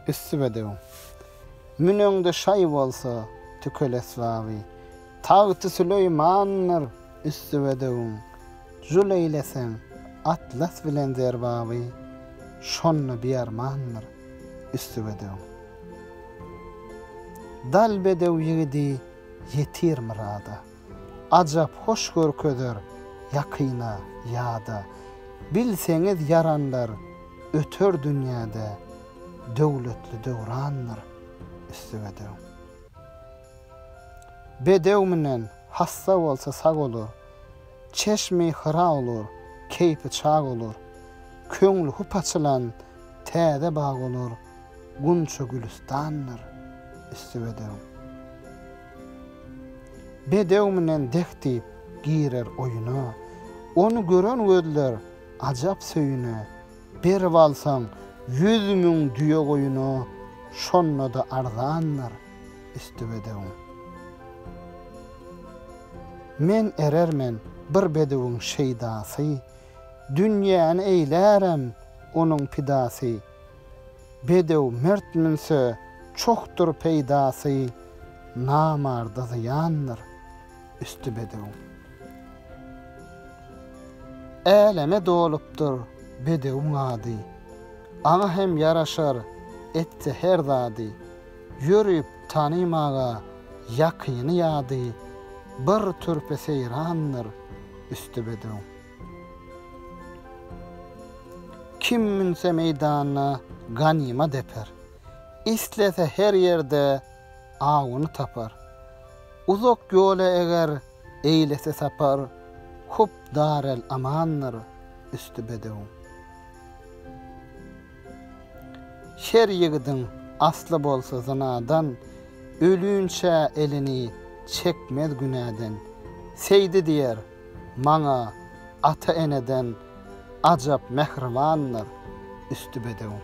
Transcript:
Üsti bedewiň. Müneňde şaý bolsa, tükel esbaby. Tagty Süleýmandyr üsti bedewiň. Jul eýleseň, atlas bilen zerbaby. Şonda biarmandyr üsti bedewiň. Dal bedew ýigidi ýetir myrada. Ajap hoş görkezer ýakyna, ýada. Bilseňiz ýaranlar öter dünýäde, Döwletli döwrandyr üsti bedew. Bedew münen hassa bolsa sag olur, Çeşmi Hyra olur, keýpi çag olur, Köňli hup açylan täze bag olur, Gunça gülüstandyr üsti bedew. Bedew münen dek diýip, girer oýuna. Ony gören gözler ajap söýüne. Berip alsaň ýüz müň düýe-goýuna, şonda-da arzandyr üsti bedewiň. Men erermen bir bedewiň şeýdasy, dünýäni eýlärem onuň pidasy, Bedew mert münse, çokdur peýdasy, Namarda zyýandyr, üsti bedew. Äleme dolupdyr bedewiň ady, Aňa hem ýaraşar, etse her zady. Ýörüp tanymaga ýakyny-ýady, Bir türpe seýrandyr, üsti bedew. Kim münse meýdana ganymat eper, Islese her ýerde awuny tapar. Uzak ýola eger eýlese sapar, Köp darel-amandyr üsti bedewiň. Şer ýigidiň asly bolsa zynadan, Ölünçä elini çekmez günäden. Seýdi diýer. Maňa ata-eneden ajap mähribandyr üsti bedewiň.